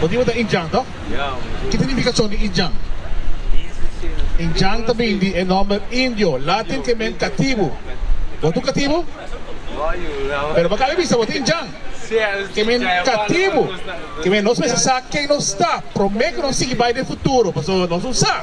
Motibu ta Injan tok? Kit signifikashon di Injan? Injan ta bini di e nòmber Indio, latin ke meen katibu. Bo ta un katibu? Pero bo kabe bisa bo ta Injan, ke meen katibu. Ke meen nos mester sa ken nos ta promé ku nos sigui bai den futuro, pasobra nos no sa.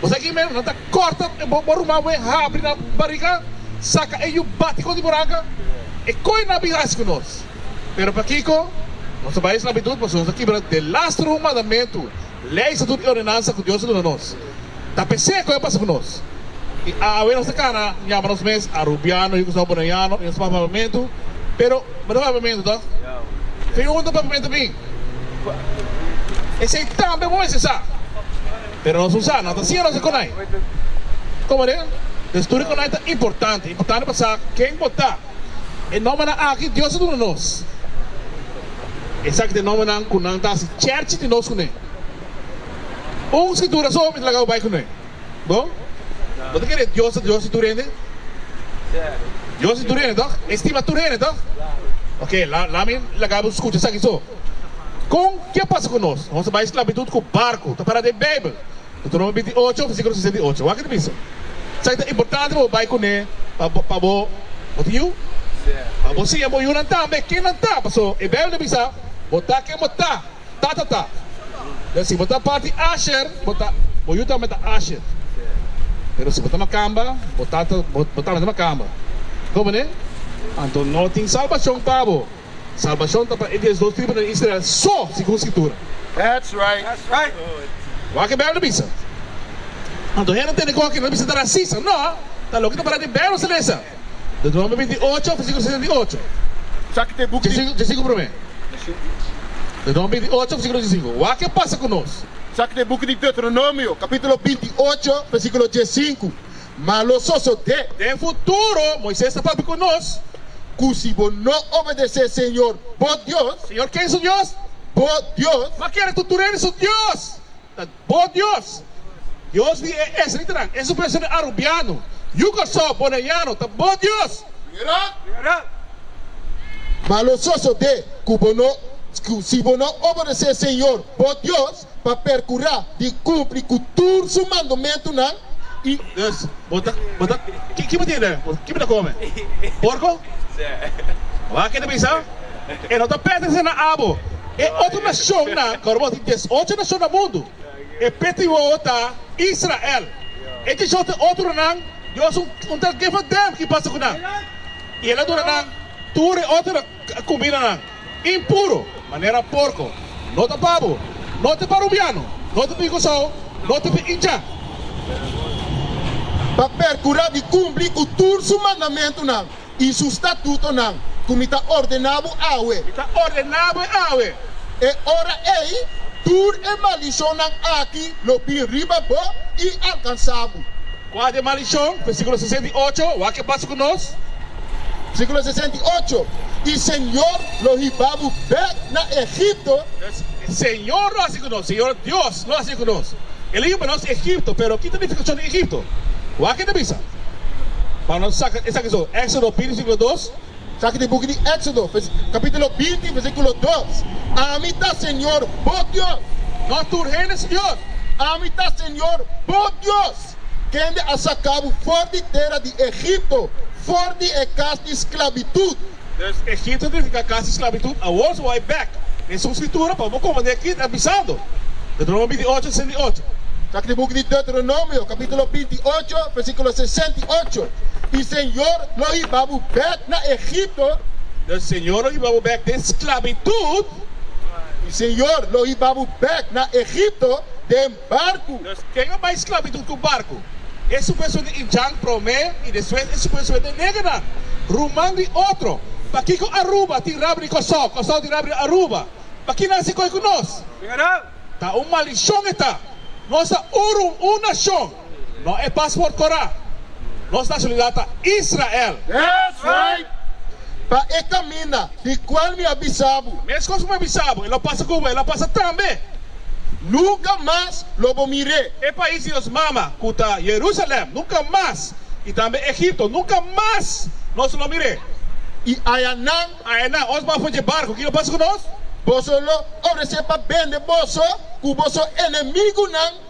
Bo sa kimen, nan ta kòrta e bo bo ruman wen, habri nan bariga, saka e yu bati kontra bo ranka. E koi nan a bin hasi ku nos? Pero pakiko nos a bai sklabitut? Pasobra nos a kibra den lastro un mandamentu, lei, estatut i ordenansa ku Dios a duna nos. Ta p'esei koi a pasa ku nos. I awe nos ta kana yama nos mes arubiano, yu ku staba bonaiano i nos papia papamentu. Pero bo ta papia papamentu ta? Fin un ta papia papamentu bin. Esei tambe bo mester sa. Pero Susana ta sin rosa kunai. Komo den e studio kunai ta importante. Importante pa sa ken bo ta. E nombernan aki Dios a duna nos. Esaki ta e nombernan ku nan ta hasi chèrchi di nos kuné. Un Skritura so mi ta laga bo bai kuné. Bo no ta kere Dios ta Dios di tur hende? Dios di tur hende tòg? E stima tur hende tòg? Oke, lami laga bo skucha esaki so. Kon ke a pasa ku nos? Nos a bai sklabitut ku barku. Ta pará den Beibel. Deuteronomio binti i ocho, versikulo sesenta i ocho. Wak e ta bisa. Esaki ta importante pa bo bai kuné pa bo pa bo bo ta yu. Pa bo siña bo yunan tambe ken nan ta. Paso e Beibel ta bisa, Bo ta ken bo ta, tata ta. Den si bo ta parti Asher, bo ta bo yu tambe ta Asher. Pero si bo ta makamba, bo tata bo tambe ta makamba. Komo ne? Anto no tin salbashon pa bo. Salbashon ta pa e dies dos tribunan Israel so segun Scritura. That's right. Wak e Bijbel ta bisa. Anto hende tende cu aki lo ta bisa ta racista? No, ta loke ta pará den e Bijbel ta lesa. Deuteronomio binti i ocho, versiculo sesenta i ocho. Dje sinku promé. Deuteronomio binti i ocho, versiculo dje sinku. Wak e pasa cu nos. Saki den buki di Deuteronomio, capitulo binti i ocho, versiculo dje sinku. ma lo sosodé. Den futuro, Moises ta papia ku nos, Ku si bo no obedesé Señor, bo Dios. Señor, ken su Dios? Bo Dios. Ma kere tutu rei di su Dios ta bo Dios. Dios di e esritinan, e superacionnan arubiano, yuka so, bonaiano, ta bo Dios. Mira, ma lo sosodé ku bo no, ku si bo no obedesé Señor, bo Dios. pa percura di cumpli cu tur su mandomentunan y. Yes, bo ta, bo ta, ki, ki bo tin den? Bo, ki bo ta come? Porco? Ora kende bisa, E no ta pertenece na abo. E otro nacionnan, cu ora bo tin diesocho nacion na mundu, e peti wowo ta Israel. E diesocho otronan, Dios un, un tal Gevadem ki pasa cu nan. Y el a duna nan tur e otro. Cubinanan, impuro, manera porco, no ta pabo, no ta parubiano, no ta picosao, no ta pe incha. Pa percura di cumpli cu tur su mandamentunan y su statutonan cu mi ta ordena bo awe. Mi ta ordena bo awe. E ora ey, tur e maldicionnan aki lo bin riba bo y alcansa bo. Kua ta e maldishon? Versikulo sesenta i ocho, Wak ke pasa ku nos? Versikulo sesenta i ocho, I Señor lo hiba bo bek na Egipto. Señor lo hasi ku nos, Señor Dios lo hasi ku nos. El a hiba nos Egipto. Pero ki ta nifikashon di Egipto? Wak ke ta bisa pa nos saka esaki so, Éxodo bini, versikulo dos. Sa ki den buki di Éxodo, kapítulo binti, versíkulo dos, Ami ta Señor bo Dios. Mas tur hende su Dios. Ami ta Señor bo Dios, kende a saka bo for di tera di Egipto, for di e kas di sklabitut. Pues, Egipto signifiká kas di sklabitut. Awor su wòrdu bèk den su Skritura pa bo kòmand'é akí ta bisando. Deteronomio binti ocho, sesenta i ocho. Sa ki den buki di Deteronomio, kapítulo binti ocho, versíkulo sesenta i ocho. i Señor lo hiba bo bek na Egipto, i Señor lo hiba bo bek den sklabitut, i Señor lo hiba bo bek na Egipto den barku. Dus, ken a bai sklabitut ku barku? E supuesto di Injang promé i despues e supuesto di negernan, ruman di otro. Pakiko Aruba tin rabri di Kòrsou, Kòrsou tin rabri di Aruba? Pakiko nan a hasi koi ku nos? Ta un malishon e ta! Nos ta uru un nashon. No e pas por kora. Nos nacionalidad ta Israel. That's right! Pa e caminda di cual mi a bisa bo. Mescos cu mi a bisa bo, e lo pasa cu bo, e lo pasa tambe. Nunca mas lo bo mir'é. E pais di nos mama, cu ta Jerusalem, nunca mas, y tambe Egipto, nunca mas nos lo mir'é. Y ayanan. Ayanan, ons baf oye barco, ki lo pasa cu nos? Boso lo ofrece pa bende boso cu boso enemigonan.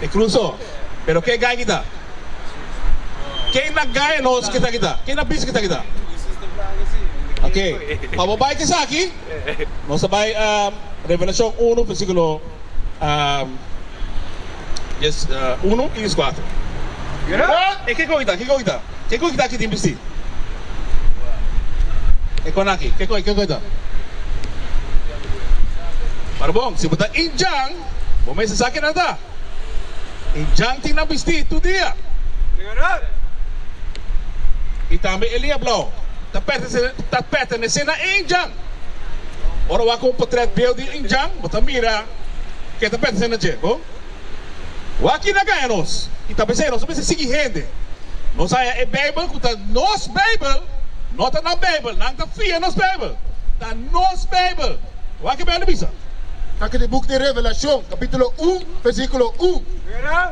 E cruzo. Pero ke gai kita? Ke na gai nos kita kita? Ke na bici kita kita? Ok. Pa bo bai ta esaki. Nos ta bai Revelacion uno versiculo dies uno y dies cuatro. Pero e ke goi ta? Ke goi ta? Ke kon kita aki tin bisti? E kon aki, ke kon, ke kon e ta? Para bon, si bo ta indjan, bo mester sa kinan ta. Indjan tin nan bisti tur dia. I tambe e liña blou ta pètese, ta pètenese na e indjan. Ora bo a kon un potrèt bieu di un indjan, bo ta mira ke ta pètese na dje, bon? Wak-i na gaña nos i ta p'esei nos no mester sigui hende. Nos haña e Beibel ku ta nos Beibel, no ta nan Beibel. Nan ta fia nos Beibel. Ta nos Beibel. Wak e Beibel bisa. Kaki di buk di Revelashon kapitulo un, versíkulo un,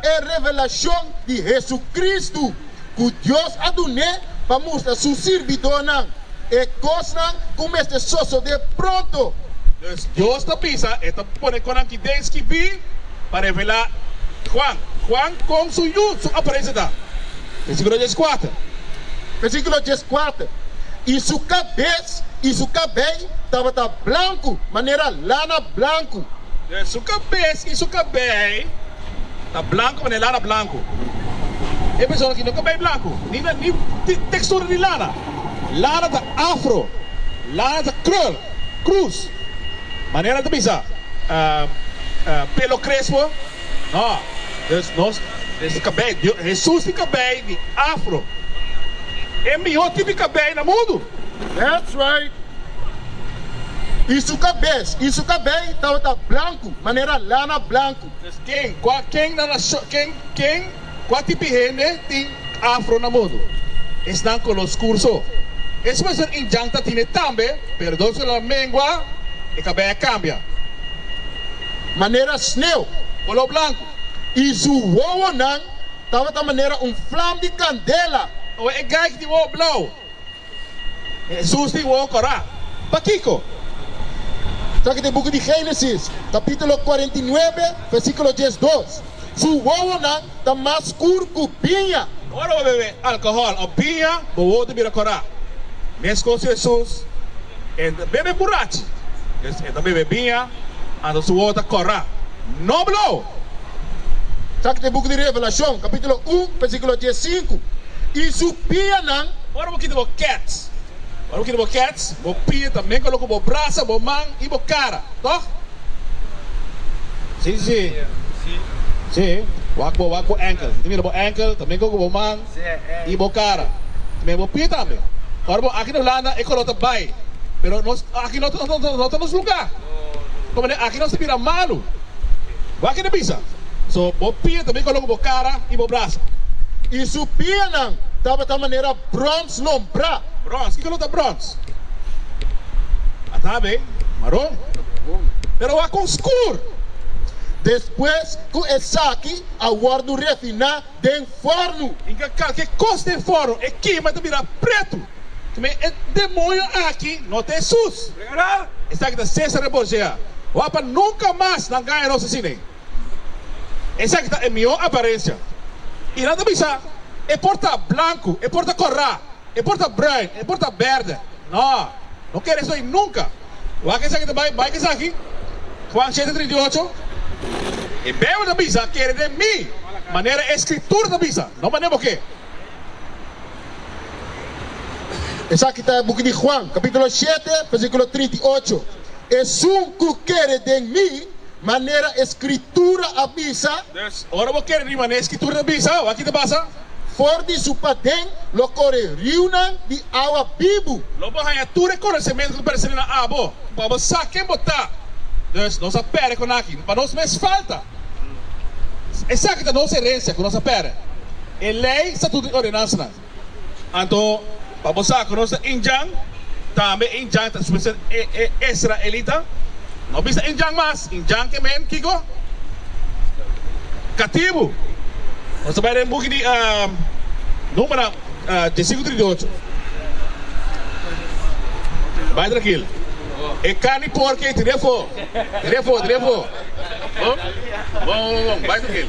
E revelashon di Hesukristu. ku Dios a dun'é pa mustra su sirbidónan e kosnan ku mester sosodé pronto. Pues, Dios ta bisa e ta pone kon nan ki den skibí pa revelá Juan, Juan kon su yu su aparensia ta. Versíkulo dies kuater. Versíkulo dies kuater, I su kabes i su kabei tabata blanku manera lana blanku. Pues, su kabes i su kabei. Ta blanco pa ne lana blanco. E persona aki no ta bay blanco ni na ni textura di lana. Lana ta afro. Lana ta krul, cruz. Manera ta bisa pelo crespo, no. Dus nos es cabei, Jesus tin cabei di afro. E miho tip di cabei na mundu. That's right. I su cabes, i su cabei tabata blanco manera lana blanco. Pues ken, kua, ken na nashon, ken, ken, kua tipi hende tin afro na mundu? Esnan color scur so. Eso mester N'Djang ta tine tambe, pero dos ora a mengua, e cabei a cambia. Manera sneeuw, color blanco, y su wowonan tabata manera un vlam di candela. Oe e geit di wowo blauw. Hesus tin wou kora. Pakiko? Traka den buki di Génesis, kapítulo kuarenta i nuebe, versíkulo dies dos. Su wowonan ta mas skur ku biña. Ora bo bebe alkohòl òf biña, bo wou ta bira kora. Meskos Hesus, e ta bebe burachi. E ta bebe biña, anto su wou ta kora. Noblo! Kak den buki di Revelashon kapítulo un pèrsikulo dies sinku, I su pianan. Ora bo kita bo kèts, ora bo kita bo kèts, bo pia tambe kolo ku bo brasa, bo man i bo kara, tò? Si, si, si. Si, wak bo, wak bo ènkel i mira bo ènkel, tambe kolo ku bo man. y bo cara me bo pie tambe ora bo aki na Hulanda e color ta bay pero nos aki no ta nos lunga como de aki nos ta bira malu bo aki na bisa so bo pie tambe colo cu bo cara y bo brasa y su pienan tabata manera bronce lombra bronce kico lo ta bronce a ta bay maron pero a con skur despues cu esaki a wordo refina. den forno. Inga kalke kos den forno e kima ta bira pretu. Kome e demonio aki no ta Hesus? Esaki ta Cesare Borgia. Wak pa nunka mas nan gaña nos asina. Esaki ta e mihó aparensia. I nan ta bisa, E por ta blanku, e por ta korá, e por ta bruin, e por ta bèrdè. No, no kere esei nunka. Wak esaki ta bai, bai ka esaki. Juan shete trinta i ocho, E bebe ta bisa, Kere den mi, manera e Skritura ta bisa, no manera bo ke. Esaki ta e buki di Juan, kapitulo shete, versíkulo trinta i ocho, Esun ku kere den mi, manera e Skritura a bisa. Ora bo kere di manera e Skritura ta bisa, wak ki ta pasa? For di su paden lo kore riunan di awa bibu. Lo bo haña tur e konosementu ku persona na abo, pa bo sa ken bo ta. Dus, nos a pere kon aki, pa nos mes falta. Esaki ta nos herensia ku nos a pere, e lei, statuto i ordenansanan. Anto. Pa bo sa ku nos ta Injan, tambe Injan ta spesel e e israelita. No bisa Injan mas, Injan ke men kiko? Katibu. Nos ta bai den buki di Numera diesinco trinta y ocho. Bai trankil. E karni por ke tiri afo, tiri afo, tiri afo. Bon, bon, bon, bon, bon, bai trankil.